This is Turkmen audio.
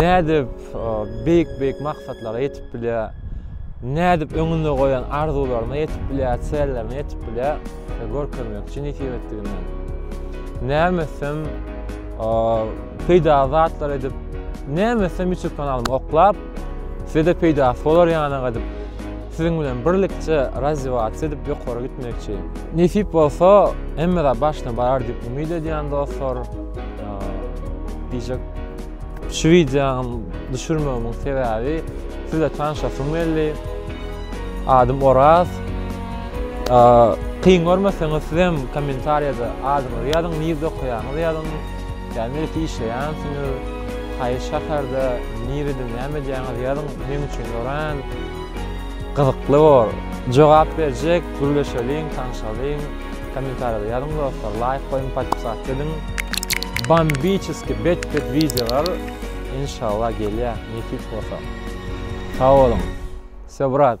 Nädip beýik-beýik maksatlara ýetip bilýär? Nädip öňünde goýan arzuwlaryna ýetip bilýär, çärelerine ýetip bilýär? Görkezmekçi nesip etdiginden. Näme etsem, peýdaly zatlar edip, näme etsem YouTube kanalymy oklap, size-de peýdasy bolar ýanak edip, siziň bilen birlikçe razziwasiýa edip ýokary gitmekçi. Nesip bolsa, hemme zat başyna barar diýip umyt edýän dostlar. Diýjek şu wideony düşürmegimin sebäbi sizle tanşasym geldi. Adym Oraz. Kyn görmeseňiz siz hem kommentariýada adyňyzy ýazyň, nirde okaýaňyzy ýazyň. Ýa niresi işleýänsiňiz, haýsy şäherde, nirede näme edýäňizi ýazyň. Meň üçin örän gyzykly bor. Jogap berjek, gürleşeliň, tanşalyň. Kommentariýada ýazyň dostlar laýk goýuň podpisatk ediň. Bambiçeski bet bet wideolar enşalla gelýä nesip bolsa. Sag boluň. Vsё brat.